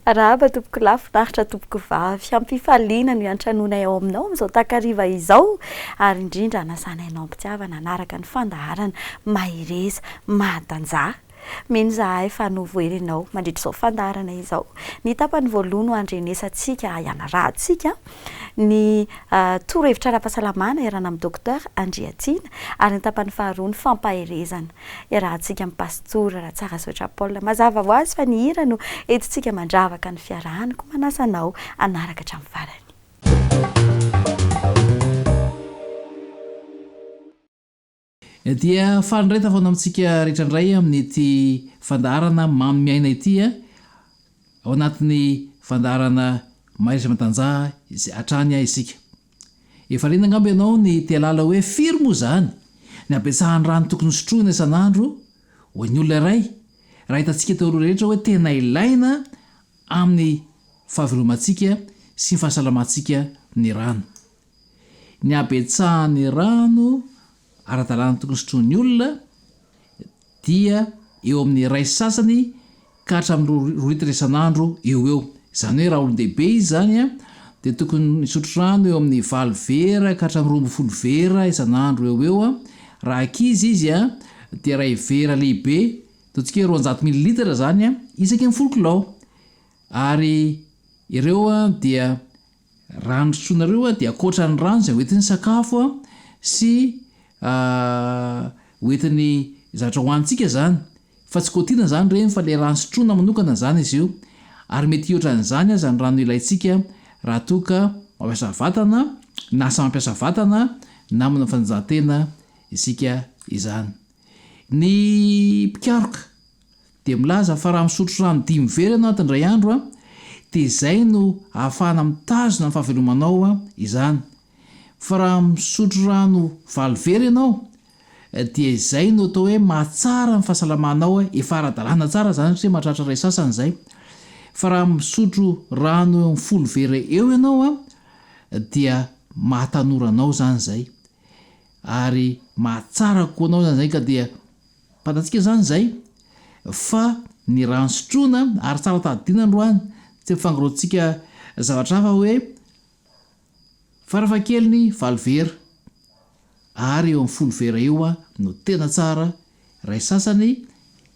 Arahaba tompoko lahy, finaritra tompoko vavy. Hampifaliana no iantranoanay ao aminao amin'izao takariva izao ary indrindra anasanay anao am-pitiavana hanaraka ny fandaharana mahereza mahatanjaha. Mino izahay fa novohery ianao mandritra izao fandaharana izao. Ny tapany voalohany ho handrenesantsika hianarahantsika ny torohevitra ara-pahasalamana iarahana amin'i Docteur Andriatiana ary ny tapany faharoa ny fampaherezana iarahantsika amin'i Pastora Ratsarazotra Paul. Mazava ho azy fa ny hira no entintsika mandravaka ny fiarahana koa manasa anao hanaraka hatramin'ny farany. Dia faly indray tavana amintsika rehetra indray amin'ity fandaharana manome aina ity ao anatin'ny fandaharana Mahereza Matanjaha izay hatrany isika. Efa liana angamba ianao ny te hahalala hoe firy moa izany ny habetsahan'ny rano tokony hosotroina isan'andro ho an'ny olona iray raha hitantsika teo aloha rehetra hoe tena ilaina amin'ny fahavelomantsika sy ny fahasalamantsika ny rano. ny habetsahan'ny rano ara-dalàna tokony sotroin'ny olona dia eo amin'ny iray sy sasany ka hatramin'ny roa roa litatra isan'andro eo ho eo. Izany hoe raha olon-dehibe izy izany a, dia tokony hisotro rano eo amin'ny valo vera ka hatramin'ny roa ambin'ny folo vera isan'andro eo ho eo a, raha ankizy izy a dia iray vera lehibe, ataontsika hoe roanjato mililitatra izany a, isaky ny folo kilao. Ary ireo a dia. Raha ny sotroinareo dia ankoatra ny rano izay hoentin'ny sakafo sy hoentin'ny zavatra hohanintsika izany fa tsy cotinana izany ireny fa ilay rano sotroina manokana izany izy io ary mety hihoatra an'izany aza ny rano ilaintsika raha toa ka mampiasa vatana na asa mampiasa vatana na manao fanatanjahantena isika izany. Ny mpikaroka dia milaza fa raha misotro rano dimy vera ianao indray andro dia izay no ahafahana mitazona ny fahavelomanao izany fa raha misotro rano valo vera ianao dia izay no atao hoe mahatsara ny fahasalamanao efa ara-dalàna tsara izany satria mahatratra iray sasany izay fa raha misotro rano eo amin'ny folo vera eo ianao dia mahatanora anao izany izay ary mahatsara koa anao izany izay ka dia Fantatsika izany izay fa ny rà nosotroina ary tsara tadidiana androany tsy ampifangaroantsika zavatra hafa hoe farafahakeliny valo vera ary eo amin'ny folo vera eo no tena tsara, iray sasany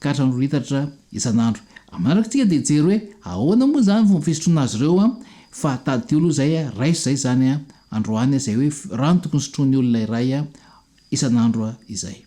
ka hatramin'ny roa litatra isan'andro. Manaraka isika dia hijery hoe ahoana moa izany fomba fisotroana azy ireo fa tadidio aloha izay, raiso izay izany androany izay hoe rano tokony sotroin'ny olona iray isan'andro izay.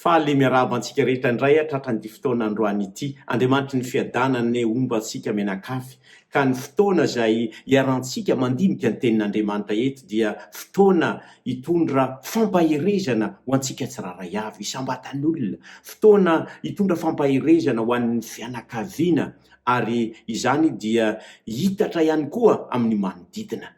Faly miarahaba antsika rehetra indray tratran'ity fotoana androany ity. Andriamanitry ny fiadanana anie homba antsika mianakavy. Ka ny fotoana izay iharantsika mandinika ny Tenin'Andriamanitra eto dia fotoana hitondra fampaherezana ho antsika tsirairay avy, isam-batan'olona. Fotoana hitondra fampaherezana ho an'ny fianakaviana ary izany dia hiitatra ihany koa amin'ny manodidina.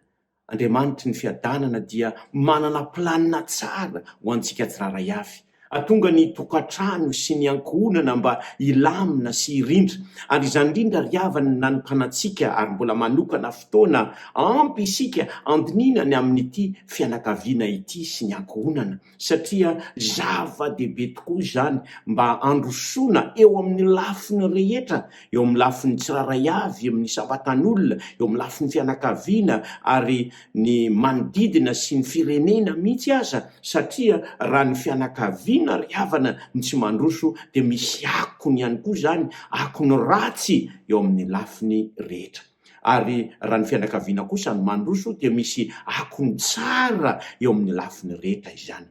Andriamanitry ny fiadanana dia manana planina tsara ho antsika tsirairay avy. Hatonga ny tokantrano sy ny ankohonana mba hilamina sy hirindra. Ary izany indrindra ry havana no nanokanantsika ary mbola manokana fotoana ampy isika handinihina ny amin'ity fianakaviana ity sy ny ankohonana. satria zava-dehibe tokoa izany mba handrosoana eo amin'ny lafiny rehetra, eo amin'ny lafiny tsirairay avy, eo amin'ny isam-batan'olona, eo amin'ny lafiny fianakaviana ary ny manodidina sy ny firenena mihitsy aza, satria raha ny fianakaviana ry havana no tsy mandroso dia misy akony ihany koa izany, akony ratsy eo amin'ny lafiny rehetra. Ary raha ny fianakaviana kosa no mandroso dia misy akony tsara eo amin'ny lafiny reta izany.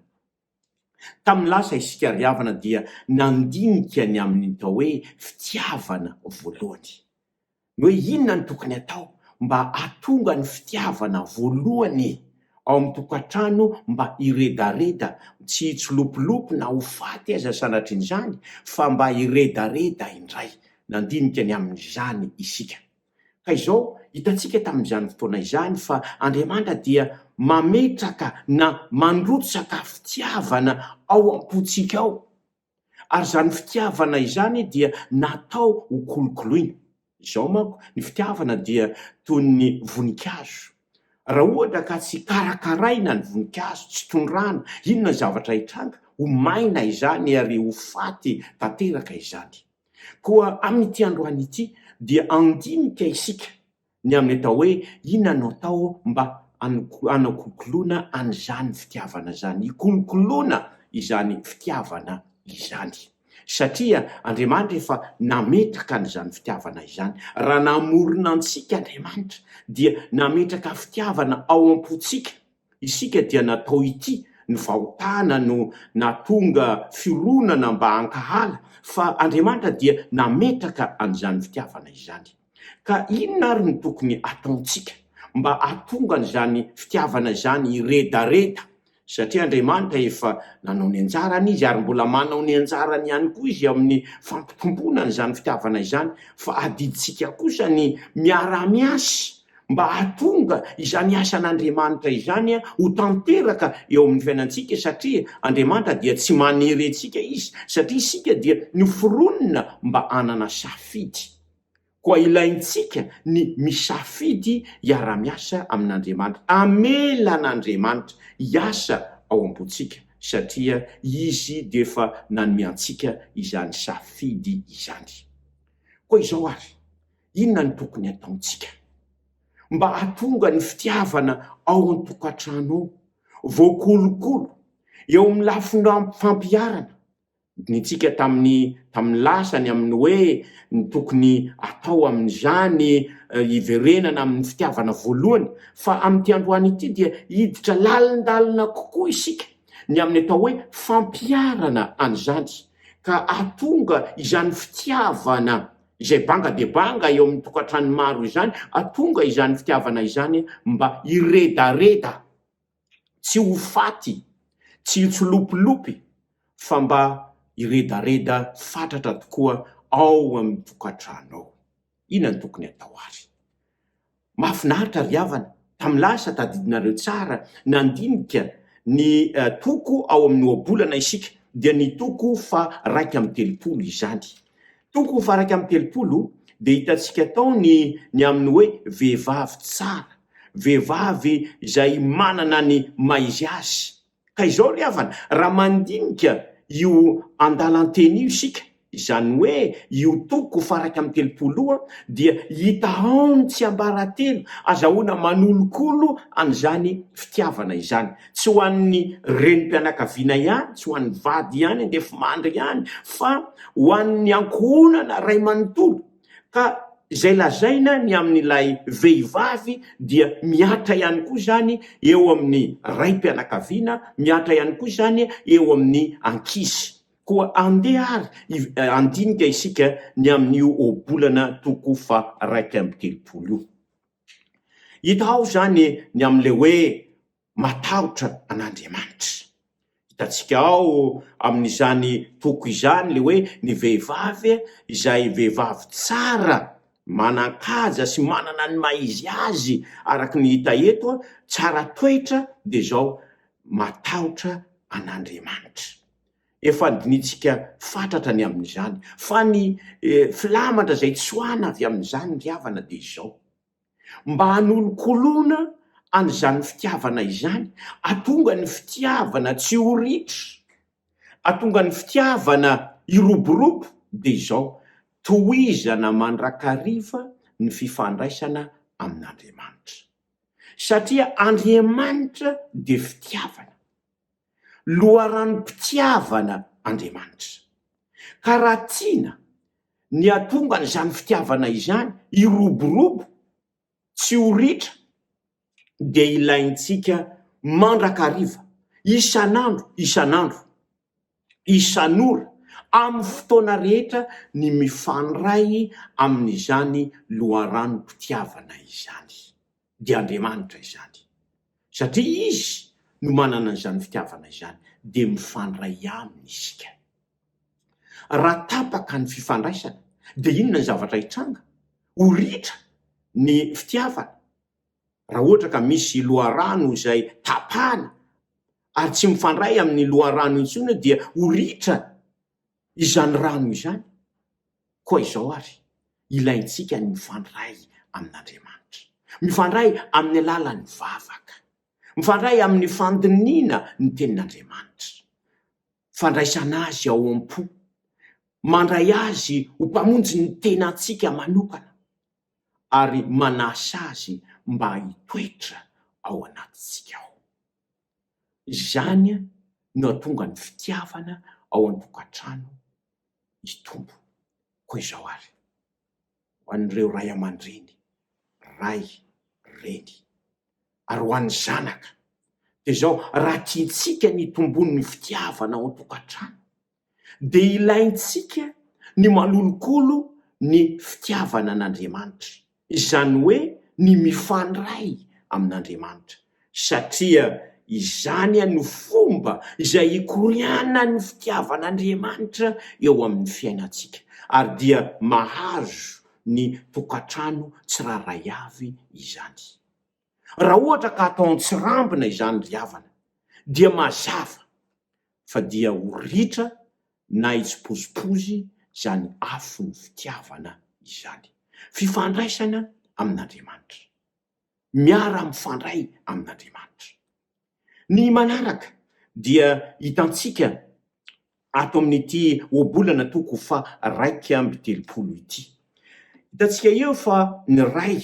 Tamin'ny lasa isika ry havana dia nandinika ny amin'ny tao hoe fitiavana voalohany. Ny hoe inona no tokony atao mba hahatonga ny fitiavana voalohany ao amin'ny tokantrano mba hiredareda, tsy hitsilopilopy na ho faty aza sanatrian'izany, fa mba hiredareda indray. Nandinika ny amin'izany isika. Ka izao, hitantsika tamin'izany fotoana izany fa Andriamanitra dia mametraka na mandrotsaka fitiavana ao am-pontsika ao, Ary izany fitiavana izany dia natao ho kolokoloina. Izao manko, ny fitiavana dia toy ny voninkazo. Raha ohatra ka tsy karakaraina ny voninkazo, tsy tondrahana, inona ny zavatra hitranga? Ho maina izany ary ho faty tanteraka izany. Koa amin'ity androany ity dia handinika isika ny amin'ny atao hoe inona no atao mba hano- hanakokoloana an'izany fitiavana izany, hikolokoloana izany fitiavana izany. Satria Andriamanitra efa nametraka an'izany fitiavana izany. Raha namorona antsika Andriamanitra, dia nametraka fitiavana ao am-pontsika isika, dia natao ity ny fahotana no nahatonga fironana mba hankahala, fa Andriamanitra dia nametraka an'izany fitiavana izany. Ka inona ary no tokony ataontsika mba hahatonga an'izany fitiavana izany hiredareda? Satria Andriamanitra efa nanao ny anjarany Izy, ary mbola manao ny anjarany ihany koa Izy amin'ny fampitomboana an'izany fitiavana izany, fa adidintsika kosa ny miara-miasa mba hahatonga izany asan'Andriamanitra izany ho tanteraka eo amin'ny fiainantsika, satria Andriamanitra dia tsy manery antsika Izy, satria isika dia noforonina mba hanana safidy. Koa ilaintsika ny misafidy hiara-miasa amin'Andriamanitra, hamela an'Andriamanitra hiasa ao am-pontsika, satria Izy dia efa nanome antsika izany safidy izany. Koa izao àry, inona no tokony hataontsika, mba hahatonga ny fitiavana ao an-tokantrano ao voakolokolo, eo amin'ny lafiny fampiharana Nodinitsika tamin'ny tamin'ny lasa ny amin'ny hoe ny tokony atao amin'izany hiverenana amin'ny fitiavana voalohany, fa amin'ity androany ity dia hiditra lalindalina kokoa isika ny amin'ny atao hoe fampiharana an'izany, ka hahatonga izany fitiavana izay banga dia banga eo amin'ny tokantrano maro izany, hahatonga izany fitiavana izany mba hiredareda Tsy ho faty, tsy hitsilopilopy, fa mba hiredareda fatratra tokoa ao amin'ny tokantranonao. Inona no tokony hatao ary? Mahafinaritra ry havana, tamin'ny lasa tadidinareo tsara nandinika ny toko ao amin'ny ohabolana isika, dia ny toko faha raika amby telopolo izany. Toko ho faran'ny amin'ny telopolo dia hitantsika tao ny ny amin'ny hoe vehivavy tsara, vehivavy izay manana ny maha izy azy. Ka izao ry havana, raha mandinika io andalan-teny io isika, izany hoe io toko faran'ny amin'ny telopolo io, dia hita ao ny tsiambaratelo azahoana manolokolo an'izany fitiavana izany. tsy ho an'ny renim-pianakaviana ihany, tsy ho an'ny vady ihany, andefimandry ihany, fa ho an'ny ankohonana iray manontolo, ka izay lazaina ny amin'ilay vehivavy dia mihatra ihany koa izany eo amin'ny raim-pianakaviana, mihatra ihany koa izany eo amin'ny ankizy. Koa andeha ary handinika isika ny amin'io ohabolana toko faharaika amby telopolo io. Hita ao izany ny amin'ilay hoe matahotra an'Andriamanitra. Hitantsika ao amin'izany toko izany ilay hoe ny vehivavy izay vehivavy tsara, manan-kaja sy manana ny maha izy azy araka ny hita eto, tsara toetra dia izao, matahotra an'Andriamanitra. Efa dinihintsika fatratra ny amin'izany, fa ny filamatra izay tsoahina avy amin'izany ry havana dia izao, mba hanolokoloana an'izany fitiavana izany, hatonga ny fitiavana tsy ho ritra, hatonga ny fitiavana hiroborobo, dia izao, tohizana mandrakariva ny fifandraisana amin'Andriamanitra. Satria Andriamanitra dia fitiavana. loharanom-pitiavana Andriamanitra. Ka raha tiana ny hatonga an'izany fitiavana izany hiroborobo tsy ho ritra dia ilaintsika mandrakariva, isan'andro isan'andro, isan'ora, amin'ny fotoana rehetra ny mifandray amin'izany loharanom-pitiavana izany. dia Andriamanitra izany. Satria Izy no manana izany fitiavana izany, dia mifandray Aminy isika. Raha tapaka ny fifandraisana, dia inona ny zavatra hitranga? Ho ritra ny fitiavana. Raha ohatra ka misy loharano izay tapahana, ary tsy mifandray amin'ny loharano intsony, dia ho ritra. Izany rano izany koa izao àry ilaintsika ny mifandray amin'Andriamanitra, mifandray amin'ny alalan'ny vavaka, mifandray amin'ny fandinihina ny Tenin'Andriamanitra, fandraisana azy ao am-po, mandray azy ho Mpamonjy ny tenantsika manokana, ary manasa azy mba hitoetra ao anatintsika ao. Izany no hahatonga ny fitiavana ao an-tokantrano hitombo. Koa izao ary, ho an'ireo ray aman-dreny, ray, reny, ary ho an'ny zanaka dia izao, raha tiantsika ny hitomboan'ny fitiavana ao an-tokantrano dia ilaintsika ny malolokolo ny fitiavana an'Andriamanitra, izany hoe ny mifandray amin'Andriamanitra, satria izany no fomba izay ikorianan'ny fitiavan'Andriamanitra eo amin'ny fiainantsika, ary dia mahazo ny tokantrano tsirairay avy izany. Raha ohatra ka atao an-tsirambina izany ry havana dia mazava fa dia ho ritra na hitsipozipozy izany afon'ny fitiavana izany. Fifandraisana amin'Andriamanitra. Miara-mifandray amin'Andriamanitra. Ny manaraka dia hitantsika ato amin'ity ohabolana toko faha-iraika amby telopolo ity. Hitantsika eo fa ny Ray,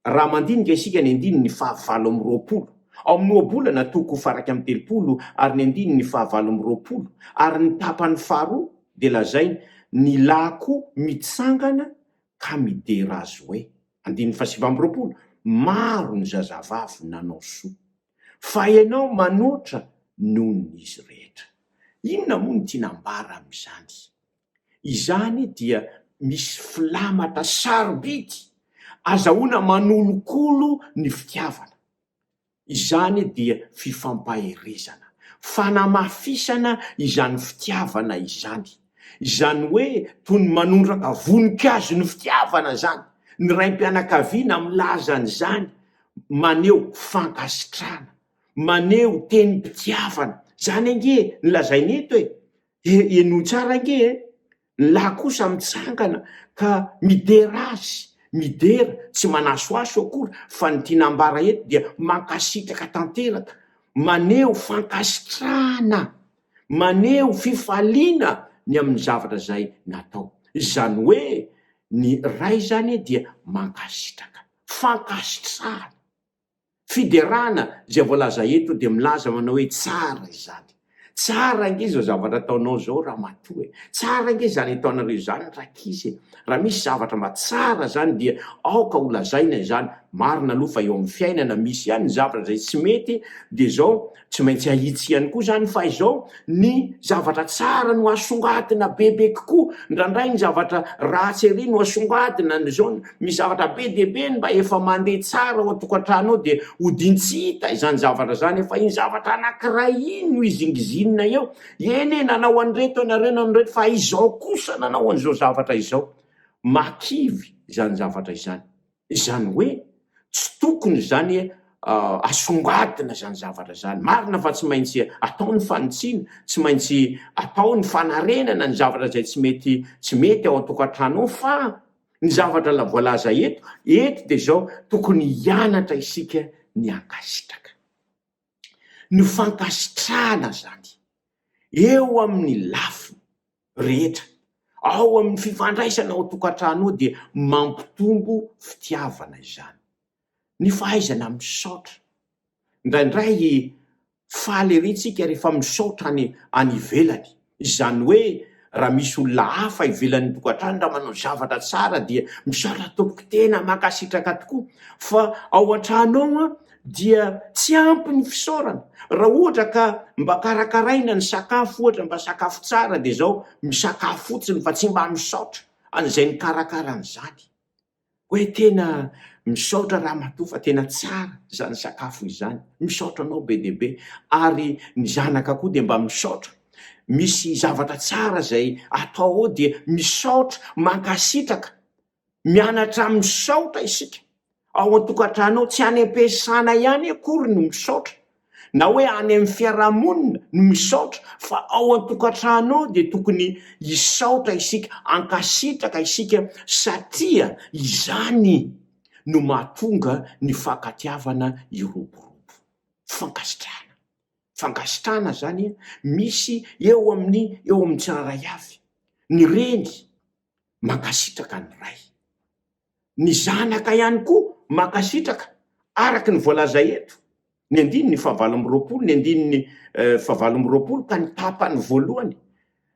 raha mandinika isika ny andininy fahavalo amby roapolo, ao amin'ny ohabolana toko faha-iraika amby telopolo ary ny andininy fahavalo amby roapolo, ary ny tapany faharoa dia lazainy, Ny lahy koa mitsangana ka midera azy hoe. Andininy fahasivy amby roapolo, Maro ny zazavavy nanao soa, fa ianao manoatra noho ny izy rehetra. Inona moa no tiana ambara amin'izany? Izany dia misy filamatra sarobidy azahoana manolokolo ny fitiavana. Izany dia fifampaherezana, fanamafisana izany fitiavana izany. Izany hoe toy ny manondraka voninkazo ny fitiavana izany. Ny raim-pianakaviana milaza an'izany, maneho fankasitrahana, maneho tenim-pitiavana. Izany ange no lazaina eto e! Henoy tsara ange e! Ny lahy kosa mitsangana ka midera azy, midera, tsy manasoaso akory fa ny tiana ambara eto dia mankasitraka tanteraka, maneho fankasitrahana, maneho fifaliana ny amin'ny zavatra izay natao. Izany hoe ny ray izany dia mankasitraka. Fankasitrahana. Fiderana izay voalaza eto dia milaza manao hoe tsara izany. Tsara ange izao zavatra ataonao izao ramatoa e! Tsara ange izany ataonareo izany rankizy e! Raha misy zavatra mba tsara izany dia aoka holazaina izany. Marina aloha fa eo amin'ny fiainana misy ihany ny zavatra izay tsy mety dia izao Tsy maintsy ahitsy ihany koa izany fa izao ny zavatra tsara no asongadina bebe kokoa, indraindray ny zavatra ratsy ery no asongadina, ny izao misy zavatra be dia be ny mba efa mandeha tsara ao an-tokantrano ao dia hodiany tsy hita izany zavatra izany fa iny zavatra anankiray iny no izingizinina eo, eny e, nanao an'ireto ianareo, nanao an'ireto fa izao kosa nanao an'izao zavatra izao, mahakivy izany zavatra izany. Izany hoe tsy tokony izany asongadina izany zavatra izany. Marina fa tsy maintsy atao ny fanitsiana, tsy maintsy atao ny fanarenana ny zavatra izay tsy mety tsy mety ao an-tokantrano ao fa ny zavatra voalaza eto eto dia izao, tokony hianatra isika ny hankasitraka. ny fankasitrahana zany eo amin'ny lafiny rehetra, ao amin'ny fifandraisana ao an-tokantrano ao dia mampitombo fitiavana izany, ny fahaizana misaotra, indraindray faly ery tsika rehefa misaotra any any ivelany Izany hoe raha misy olona hafa ivelan'ny tokantrano raha manao zavatra tsara dia mizara tompoko tena mankasitraka tokoa fa ao an-trano ao an dia tsy ampy ny fisaorana raha ohatra ka mba karakaraina ny sakafo ohatra mba sakafo tsara dia izao misakafo fotsiny fa tsy mba misaotra an'izay nikarakara an'izany Oe tena misaotra ramatoa fa tena tsara izany sakafo izany, misaotra anao be dia be, ary ny zanaka koa dia mba misaotra, misy zavatra tsara izay atao ao dia misaotra, mankasitraka, mianatra misaotra isika, ao an-tokantrano ao, tsy any am-piasana ihany akory no misaotra na hoe any amin'ny fiarahamonina no misaotra fa ao an-tokantrano ao dia tokony hisaotra isika, hankasitraka isika satria izany no mahatonga ny fankatiavana hiroborobo. Fankasitrahana, fankasitrahana izany misy eo amin'ny eo amin'ny tsirairay avy. Ny reny mankasitraka ny ray. Ny zanaka ihany koa mankasitraka araka ny voalaza eto, ny andininy fahavalo amby roapolo, ny andininy fahavalo amby roapolo ka ny tapany voalohany,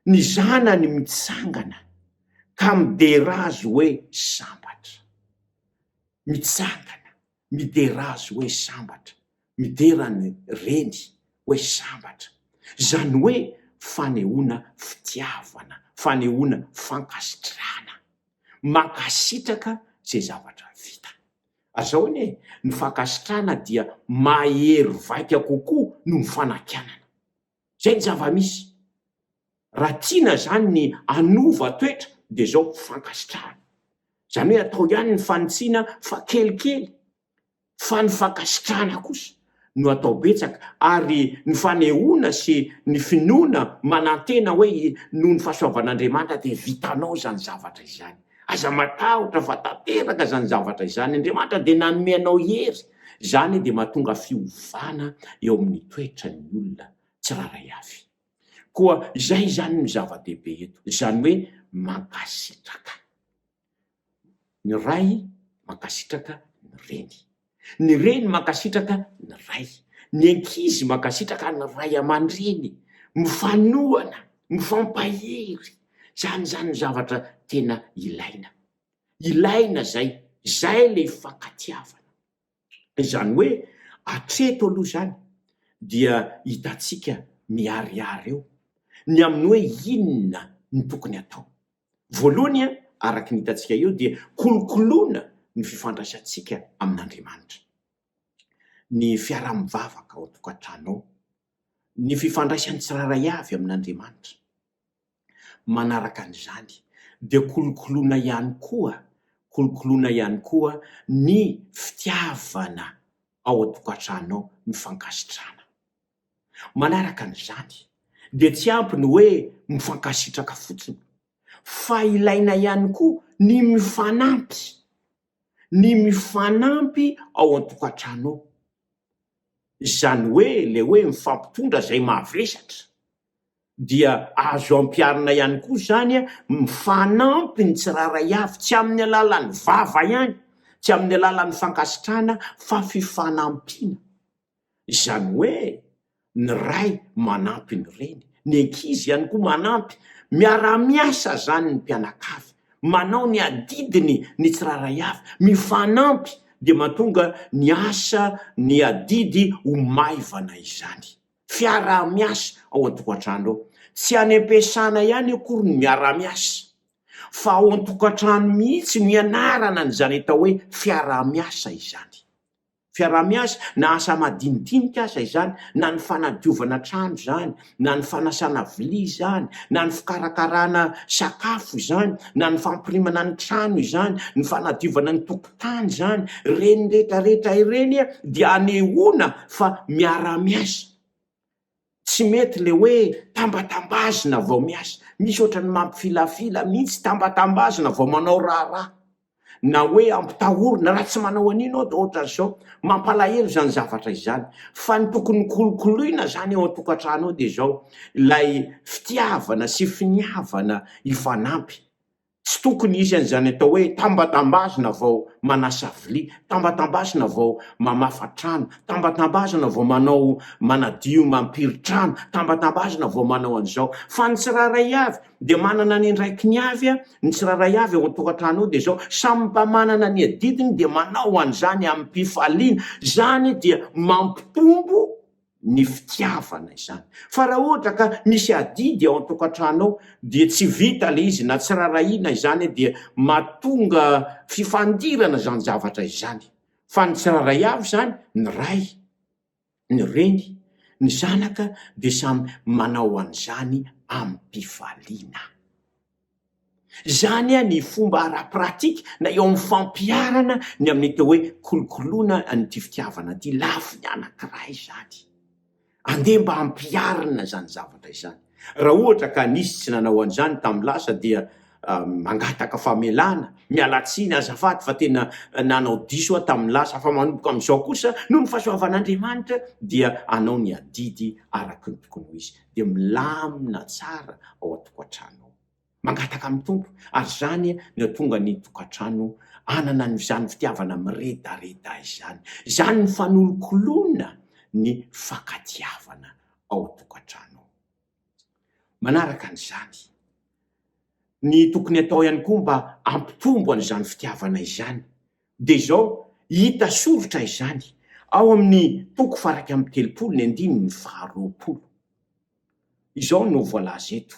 ny zanany mitsangana ka midera azy hoe sambatra. Mitsangana. Midera azy hoe sambatra. Midera ny reny hoe sambatra. Izany hoe fanehoana fitiavana, fanehoana fankasitrahana. Mankasitraka izay zavatra vita. Ary izao anie e, ny fankasitrahana dia mahery vaika kokoa noho ny fanakianana. Zay ny zava-misy. Raha tiana zany ny hanova toetra dia zao fankasitrahana. Zany hoe atao ihany ny fanitsiana fa kelikely fa ny fankasitrahana kosa no atao betsaka ary ny fanehoana sy ny finoana manantena hoe noho ny fahasoavan'Andriamanitra dia vitanao izany zavatra izany. Aza matahotra fa tanteraka izany zavatra izany, Andriamanitra dia nanome anao hery, izany dia mahatonga fiovana eo amin'ny toetran'ny olona tsirairay avy. Koa izay izany no zava-dehibe eto, izany hoe mankasitraka ny ray, mankasitraka ny reny. Ny reny mankasitraka ny ray. Ny ankizy mankasitraka ny ray aman-dreny. Mifanohana, mifampahery. Izany izany no zavatra tena ilaina. Ilaina izay. Izay ilay hifankatiavana. Izany hoe hatreto aloha izany dia hitantsika miharihary eo ny amin'ny hoe inona no tokony hatao. Voalohany, araka ny hitantsika eo, dia kolokoloina ny fifandraisantsika amin'Andriamanitra, ny fiaraha-mivavaka ao an-tokantrano ao, ny fifandraisan'ny tsirairay avy amin'Andriamanitra. Manaraka an'izany, dia kolokoloina ihany koa, kolokoloina ihany koa ny fitiavana ao an-tokantrano ao, ny fankasitrahana. Manaraka an'izany, dia tsy ampy ny hoe mifankasitraka fotsiny, fa ilaina ihany koa ny mifanampy, ny mifanampy ao an-tokantrano ao. Izany hoe ilay hoe mifampitondra izay mavesatra, dia azo ampiharina ihany koa izany mifanampy ny tsirairay avy, tsy amin'ny alalan'ny vava ihany, tsy amin'ny alalan'ny fankasitrahana, fa fifanampiana. Izany hoe ny ray manampy ny reny, ny ankizy ihany koa manampy. Miara-miasa izany ny mpianakavy, manao ny adidiny ny tsirairay avy, mifanampy dia mahatonga ny asa, ny adidy ho maivana izany. Fiaraha-miasa ao an-tokantrano ao. Tsy any am-piasana ihany akory ny miara-miasa fa ao an-tokantrano mihitsy no ianarana an'izany atao hoe fiaraha-miasa izany. fiaraha-miasa, na asa madinidinika aza izany, na ny fanadiovana trano izany, na ny fanasana vilia izany, na ny fikarakarana sakafo izany, na ny fampirimana ny trano izany, ny fanadiovana ny tokotany izany, ireny rehetra rehetra ireny dia anehoana fa miara-miasa. Tsy mety le hoe tambatambazina vao miasa, misy ohatran'ny mampifilafila mihitsy, tambatambazina vao manao raharaha na hoe ampitahorina, raha tsy manao an'io ianao dia ohatran'izao, mampalahelo izany zavatra izany fa ny tokony hokolokoloina izany eo an-tokantrano eo dia izao, ilay fitiavana sy finiavana hifanampy, Tsy tokony hisy an'izany atao hoe tambatambazina vao manasa vilia, tambatambazina vao mamafa trano, tambatambazina vao manao manadio mampiry trano, tambatambazina vao manao an'izao. Fa ny tsirairay avy dia manana ny andraikiny avy a, ny tsirairay avy ao an-tokantrano ao dia izao, samy mba manana ny adidiny dia manao an'izany amim-pifaliana. Izany dia mampitombo ny fitiavana izany. Fa raha ohatra ka misy adidy ao an-tokantrano ao dia tsy vita ilay izy na tsy rarahiana izany dia mahatonga fifandirana izany zavatra izany. Fa ny tsirairay avy izany, ny ray, ny reny, ny zanaka dia samy manao an'izany amim-pifaliana. Izany ny fomba ara-pratika na eo amin'ny fampiharana ny amin'ity hoe kolokoloina an'ity fitiavana ity, lafiny anankiray izany. Andeha mba hampiharina izany zavatra izany. Raha ohatra ka nisy tsy nanao an'izany tamin'ny lasa dia mangataka famelana, miala tsiny azafady fa tena nanao diso aho tamin'ny lasa fa manomboka amin'izao kosa noho ny fahasoavan'Andriamanitra dia hanao ny adidy araka ny tokony ho izy. dia milamina tsara ao an-tokantrano ao. Mangataka amin'ny Tompo, ary izany no hahatonga ny tokantrano hanana an'izany fitiavana miredareda izany. Izany no fanolokoloana ny fankatiavana ao an-tokantrano ao. Manaraka an'izany, ny tokony hatao ihany koa mba hampitombo an'izany fitiavana izany dia izao, hita soritra izany ao amin'ny toko faharaika amby telopolo ny andininy faharoapolo. Izao no voalaza eto,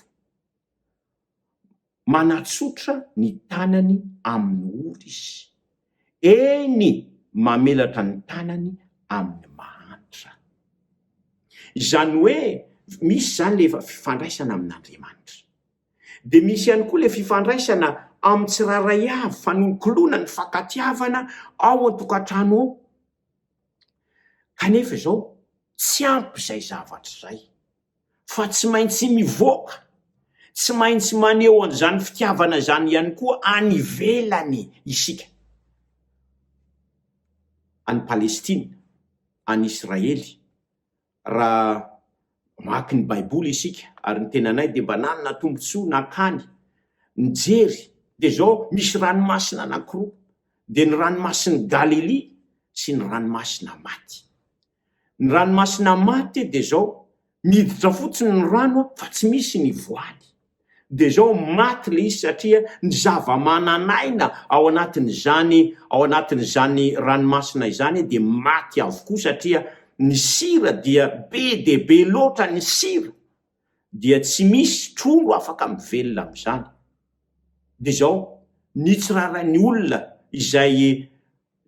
Manatsotra ny tanany amin'ny ory izy, eny, mamelatra ny tanany amin'ny mahantra. Izany hoe, misy izany ilay fifandraisana amin'Andriamanitra. dia misy ihany koa ilay fifandraisana amin'ny tsirairay avy fanonokoloana ny fankatiavana ao an-tokantrano ao. Kanefa izao tsy ampy izay zavatra izay fa tsy maintsy mivoaka, tsy maintsy maneho an'izany fitiavana izany ihany koa any ivelany isika. Any Palestina, any Israely, raha mamaky ny Baiboly isika, ary ny tenanay dia mba nanana tombontsoa nankany nijery, dia izao, Misy ranomasina anankiroa, dia ny Ranomasin'i Galilia sy ny Ranomasina Maty. Ny Ranomasina Maty dia izao, miditra fotsiny ny rano fa tsy misy ny voany. dia izao maty ilay izy satria ny zava-manan'aina ao anatin'izany ao anatin'izany ranomasina izany dia maty avokoa satria ny sira dia be dia be loatra ny sira dia tsy misy trondro afaka mivelona amin'izany dia izao ny tsirarain'ny olona izay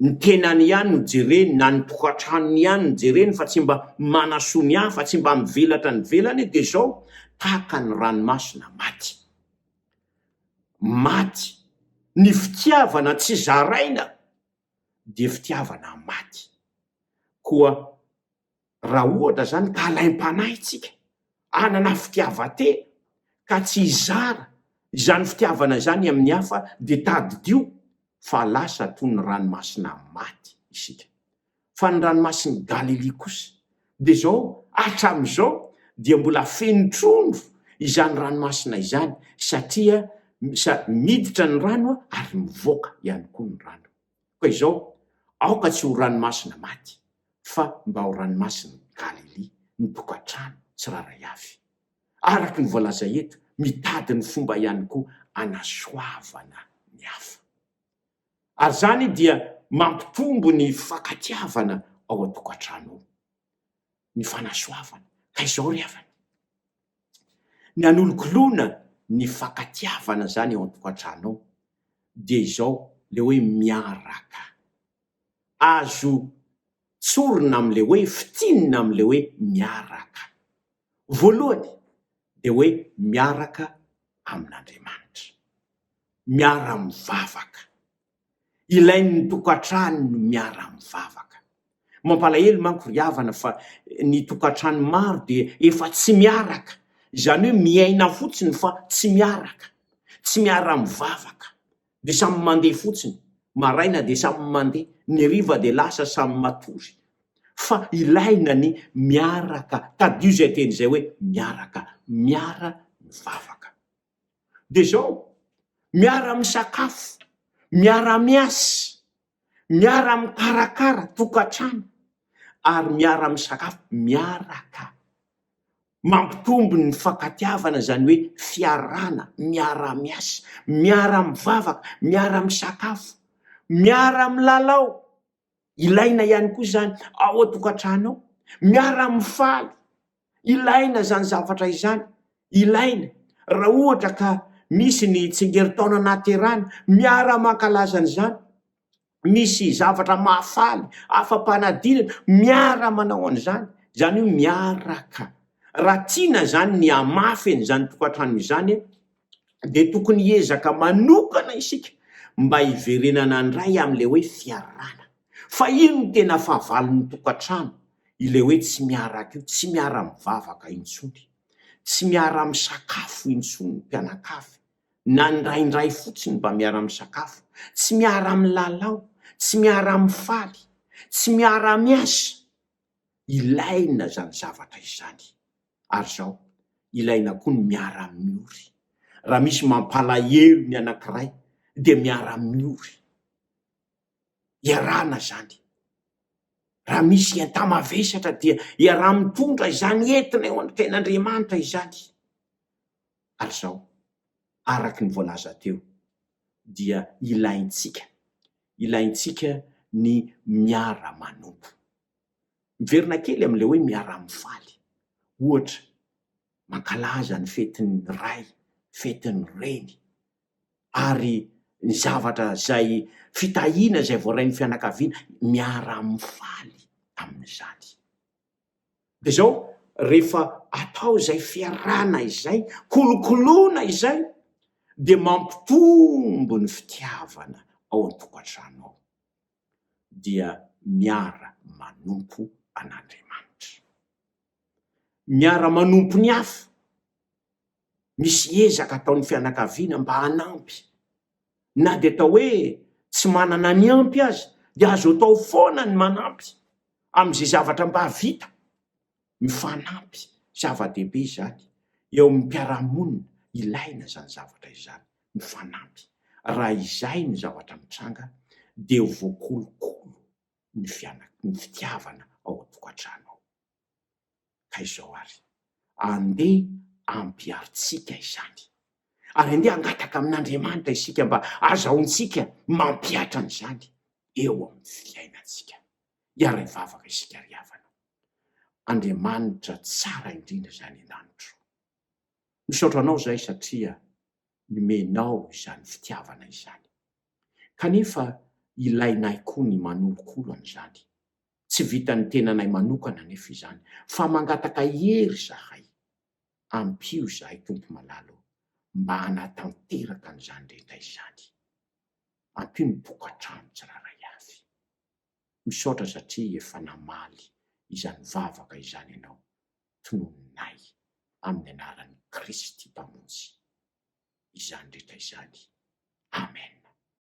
ny tenany ihany no jereny na ny tokantranony ihany no jereny fa tsy mba manasoa ny hafa, tsy mba mivelatra ny velany dia izao tahaka ny ranomasina maty. Maty. Ny fitiavana tsy zaraina dia fitiavana maty. Koa Raha ohatra izany ka alaim-panahy isika hanana fitiavan-tena ka tsy hizara izany fitiavana izany amin'ny hafa, dia tadidio fa lasa toy ny ranomasina maty isika. Fa ny ranomasin'i Galilia kosa, dia izao, hatramin'izao dia mbola feno trondro izany ranomasina izany, satria miditra ny rano ary mivoaka ihany koa ny rano. Koa izao, aoka tsy ho ranomasina maty, fa mba ho ranomasin'i Galilia ny tokantrano tsirairay avy. Araka ny voalaza eto, mitady ny fomba ihany koa hanasoavana ny hafa. Ary izany dia mampitombo ny fifankatiavana ao an-tokantrano ao. ny fanasoavana, ka izao ry havana, ny hanologoloana ny fankatiavana izany eo an-tokantrano ao dia izao ilay hoe miaraka, azo tsorina amin'ilay hoe, fintinina amin'ilay hoe miaraka. Voalohany dia hoe miaraka amin'Andriamanitra, miara-mivavaka. Ilain'ny tokantrano ny miara-mivavaka. Mampalahelo manko ry havana fa ny tokantrano maro dia efa tsy miaraka, izany hoe miaina fotsiny fa tsy miaraka, tsy miara-mivavaka, dia samy mandeha fotsiny, maraina dia samy mandeha, ny hariva dia lasa samy matory. Fa ilaina ny miaraka, tadidio izay teny izay hoe miaraka, miara-mivavaka. dia izao, miara-misakafo, miara-miasa, miara-mikarakara tokantrano ary miara-misakafo miaraka. Mampitombo ny mifankatiavana izany hoe fiarahana, miara-miasa, miara-mivavaka, miara-misakafo, miara-milalao. Ilaina ihany koa izany ao an-tokantrano ao, miara-mifaly. Ilaina izany zavatra izany, ilaina. Raha ohatra ka misy ny tsingerin-taona nahaterahana, miara-mankalaza an'izany. Misy zavatra mahafaly, afa-panadinana, miara-manao an'izany. Izany hoe miaraka. Raha tiana izany ny hamafy an'izany tokantrano izany, dia tokony hiezaka manokana isika mba hiverenana handray amin'ilay hoe fiarahana. Fa io no tena fahavalon'ny tokantrano, ilay hoe tsy miaraka io, tsy miara-mivavaka intsony, tsy miara-misakafo intsony ny mpianakavy, na indraindray fotsiny mba miara-misakafo, tsy miara-milalao, tsy miara-mifaly, tsy miara-miasa. ilaina izany zavatra izany. Ary izao, ilaina koa ny miara-miory. Raha misy mampalahelo ny anankiray, dia miara-miory. Iarahana izany. Raha misy enta-mavesatra, dia iaraha-mitondra izany entana eo an-ten'Andriamanitra izany. Ary izao, araka ny voalaza teo, dia ilaintsika ilaintsika ny miara-manompo. Miverina kely amin'ilay hoe miara-mifaly. Ohatra, mankalaza ny fetin'ny ray, fetin'ny reny, ary ny zavatra izay fitahiana izay voarain'ny fianakaviana, miara-mifaly amin'izany. Dia izao, rehefa atao izay fiarahana izay, kolokoloina izay, dia mampitombo ny fitiavana ao an-tokantrano ao. Dia miara-manompo an'Andriamanitra. Miara-manompo ny hafa. misy ezaka ataon'ny fianakaviana mba hanampy. Na dia atao hoe tsy manana ny ampy aza, dia azo atao foana ny manampy amin'izay zavatra mba vita. Mifanampy, zava-dehibe izany eo amin'ny mpiara-monina, ilaina izany zavatra izany, mifanampy. Raha izay ny zavatra mitranga, dia ho voakolokolo ny fiana-, ny fitiavana ao an-tokantrano ao. Ka izao ary, andeha ampiharintsika izany. Ary andeha hangataka amin'Andriamanitra isika mba hazahoantsika mampihatra an'izany eo amin'ny fiainantsika. Hiara hivavaka isika ry havana. Andriamanitra tsara indrindra izany an-danitra ô! Misaotra Anao izahay satria nomenao izany fitiavana izany. Kanefa ilainay koa ny manolokolo an'izany. Tsy vitan'ny tenanay manokana anefa izany, fa mangataka hery izahay. Ampio izahay, Tompo malala ô, mba hanatanteraka an'izany rehetra izany. Ampio ny tokantrano tsirairay avy. Misaotra satria efa namaly izany vavaka izany ianao, tononinay amin'ny anaran'i Kristy Mpamonjy izany rehetra izany. Amen.